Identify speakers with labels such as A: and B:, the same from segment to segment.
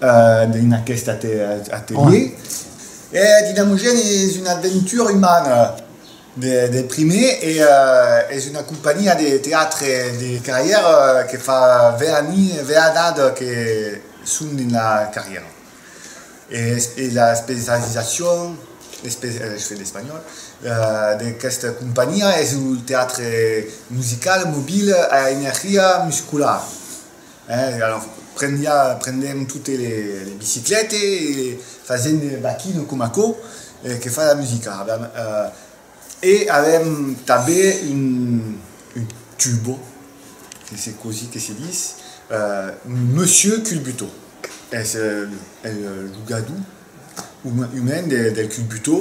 A: Dins aqueste atelier, eth dinamogèn es una aventura umana de prumèr e es una companhiá de teatre de carrièra que fa 20 annadas que son dins la carrièra. E la especializacion, j'fai d'espanhòl, d'aquesta companhiá es lo teatre musical mobil a energia musculara. Eh, alors, prendia, prendèm totes les biciclètes e fasèm de baquino coma aquò que fa la musica, avèm, eh, e avèm tanben un, un tubo, que se cosí que se dis, eh, un monsieur culbuto, es, eh, lo gadou. Un hèn del cul butó.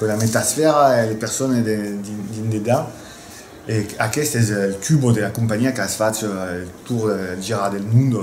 A: Una metasfèra e de persones dins dedan e aqueste es el tubo de la companhiá qu'as fach el tour del girar del monde.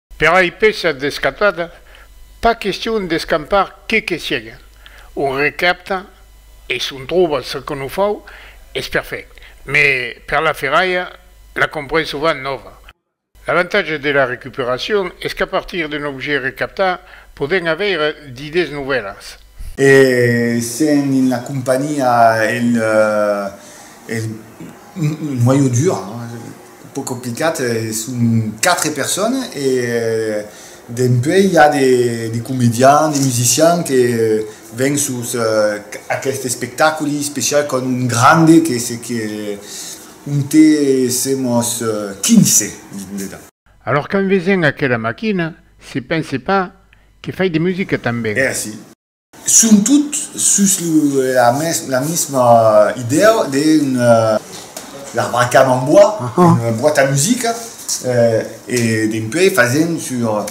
B: Per ai pèças d'escatada, pas question d'escampar que que sièga. Un recapta, e s'un tròba ce que non fau, es perfèct. Mè per la ferralha, la compren sovent nòva. L'avantatge de la recuperacion es qu'a partir d'un objèct recaptat podèm avèire d'idèes novèlas. E
A: sent en la companhiá el noyau dur, un pauc complicat, son quatre persones e dempuèi i a de comedians, de musicians que ven sus aqueste espectaculi special quand un grande que se que onte semos 15 dins de. Alòr quand
B: vesen aquela maquina, se pense pas Que fai de musica tanben. Merci.
A: Son tot sus la misma idèa de l'arbre à cames en bois, una boite à musica e dempuèi fasèm sur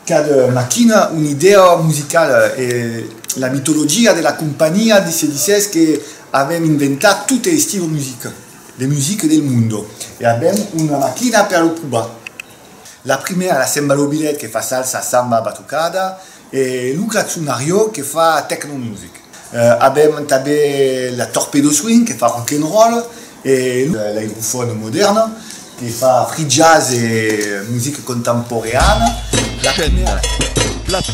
A: cada maquina una idèa musicala e la mitologia de la companhiá se disès que avèm inventat totes estilos de musica del mundo e avèm una maquina per lo probar. La primièra la Semba lo Bilet que fa salsa, samba, batucada e lo Grazzonario que fa techno music. Avèm tanben la Torpedo Swing que fa rock and roll e l'Airofon Modern que fa free jazz e music contemporeana. Chaîne,
C: plateau.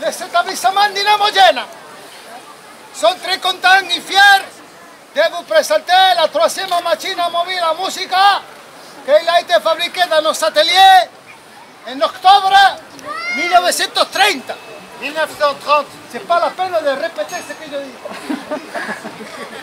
D: Les etablissements Dinamo-Gena son très contents e fiers de vos presentar la troisièma machina mobila a musica qu'ei a été fabriquée dans nos ateliers en octobre 1930. 1930. C'est pas la peine de répéter ce que je dis.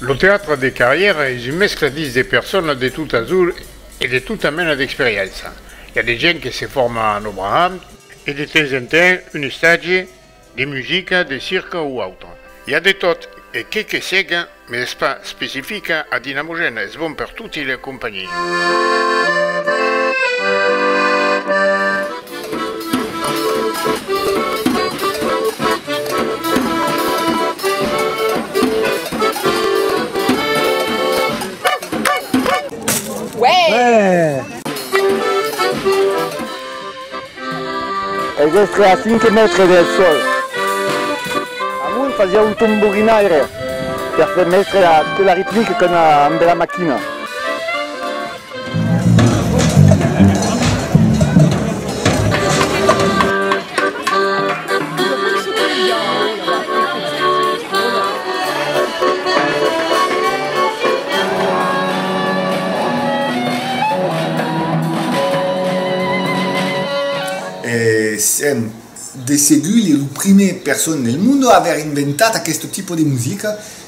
B: Lo teatre de carrièra es un mescla dins de personas de tot azul e de tota mena d'experiença. I a de gents que se forma en Obraham e de temps en temps un estatge de musica, de circa o autre. I a de tot e que que sega, mes es pas specifica a Dinamogène, es bon per toti le acompanhir.
E: Es estre a 5 mètres del sòl. Amunt fasiá un tomborinaire per far mestre la tela ritmica qu'an amb la maquina.
A: Sèm de segur lo primièr person del monde a aver inventat aqueste tipo de musica,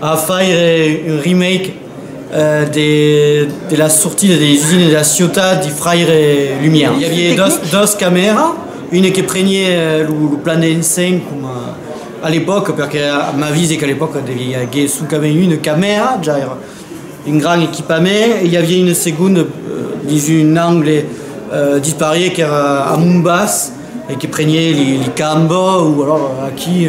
F: A faire
G: un remake de la sortida de les usines de la ciutat dei fraires Lumière. I aviá dos camèra, una que preniá lo plan de l'enseng coma a l'epòca, perque m'avise qu'a l'epòca deviá aguer soncament una camèra, ja èra un grand equipament, e i aviá una segonda dins un angle disparié qu'èra a Mombas e que preniá li cambò o alòra aquí.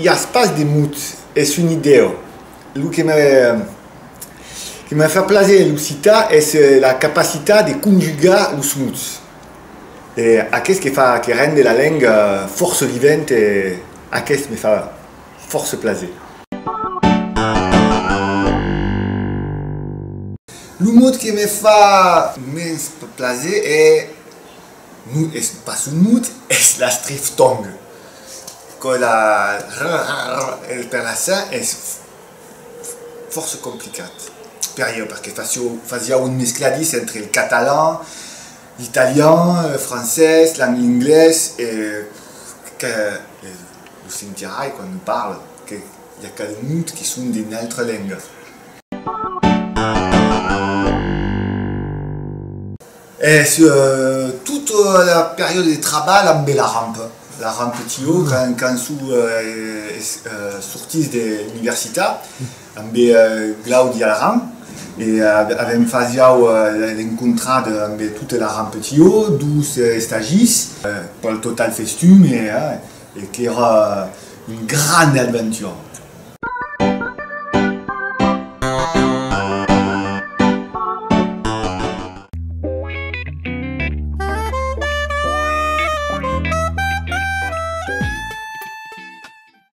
A: I as pas de mots, es un idèu. Lo que me, que me fa plaser en l'occitan es la capacitat de conjugar los mots. E aqueth que fa, que rende la lenga fòrça vivent e. Aqueste me fa fòrça plaser. Lo mot que me fa mens plaser es, non es pas un mot, es l'astriftong. Quò la rrrrrrr per la sa es fòrça complicat per ieu perque fasiá un mescladís entre el catalan, L'italian, le francés, l'inglés e que lo sentirai quand ne parle que i a quel mot qui son de n'altre lengas. Es tot la periòde de trabalh ambe la ramp, la ramp TO quand son sortís de l'universitat. Ambe Glaudi Alaran e avèm fas jau l'encontrat ambe tot l'Aran Petió, dus estagis, pel total festun e qu'èra un grande adventura.